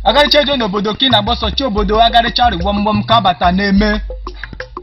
agaricha ejuo n'obodo ka ị na-agba ọsọ chi obodo agaricha rịgbọmgbọm ka bata na-eme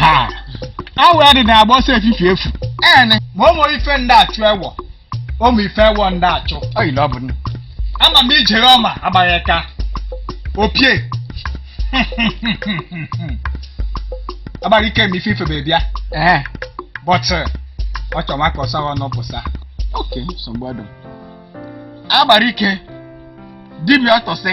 ha awụ ya dị na agba ọsọ efifi efu ene ma ụmụ ife ndị achụ ewọ ụmụ ife ewọ ndị achụ ọ yiri ọ bụ nne ama m ijere ọma agbara aka opie agbara ike m ife ifebe bịa ee but ọ chọrọ maka ọsọ ọnụ pụsa oke nsogbu ọdụ agbara ike dibịa ọtụsị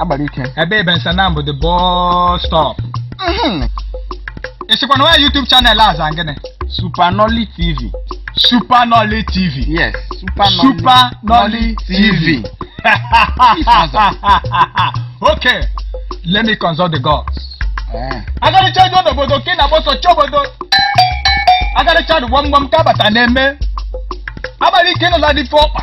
agbara ike ebe ebe nsanam bụ the bus stop Mhm. ị sịkwa na nwa YouTube channel a za gịnị super nolly tv Super Nolly TV yes super nolly Super Nolly TV okay let me consult the gods Eh. agaricha ejuo n'obodo ka ị na-agba ọsọ chọọ obodo agaricha dị gbamgbam ka abata na-eme agbara ike nụla dị fe ọkpa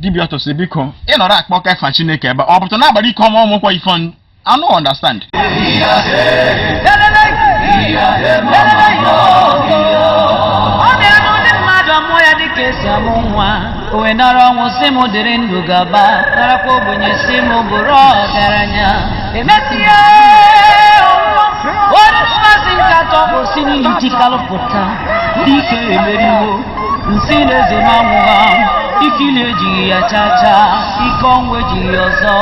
dibịa ọtụsị biko ị nọrọ akpọka efa chineke ebe ọ bụtụ na agbara ike ọnwa ọmụkwọ ife ọnụ anụ understand ọ na-eme n'ụdị mmadụ a mụọ ya dịka esi amụ nwa o wee nara ọnwụ sị m dịrị ndụ gaba narakwa ogbenye sị m bụrụ ọgaranya emesịa onye mbọsị nke atọ o si n'ili tikalụ pụta dike emeriwo m sị na eze m anwụghị ike ili ejighị ya chaa chaa ike ọnwụ ejighị ya ọzọ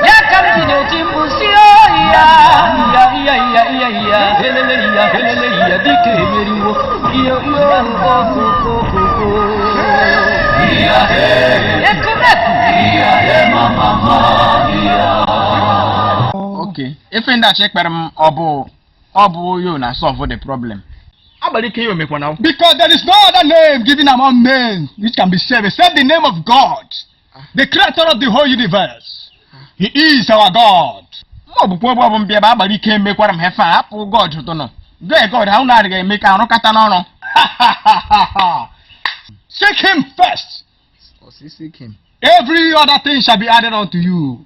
ya ka m ji na-eti mkpu sị oyi ya iya iya iya iya iya elele iya elele iya dike emeriwo iyo iyo Okay, ife ndị achọ ekpere m ọ bụ ọ bụ ya na-solve the problem. Agbara ike yo mekwana. Because there is no other name given among men which can be saved except the name of God. the creator of the whole universe he is our god ma ọ bụkwa ọgbọ bụ mbịa bụ agbara ike mekwara m ife hapụ god tụnụ gee god ha ụlọ adịghị eme ka arụ kata n'ọrụ seek him first Ọ sị seek him. every other thing shall be added unto you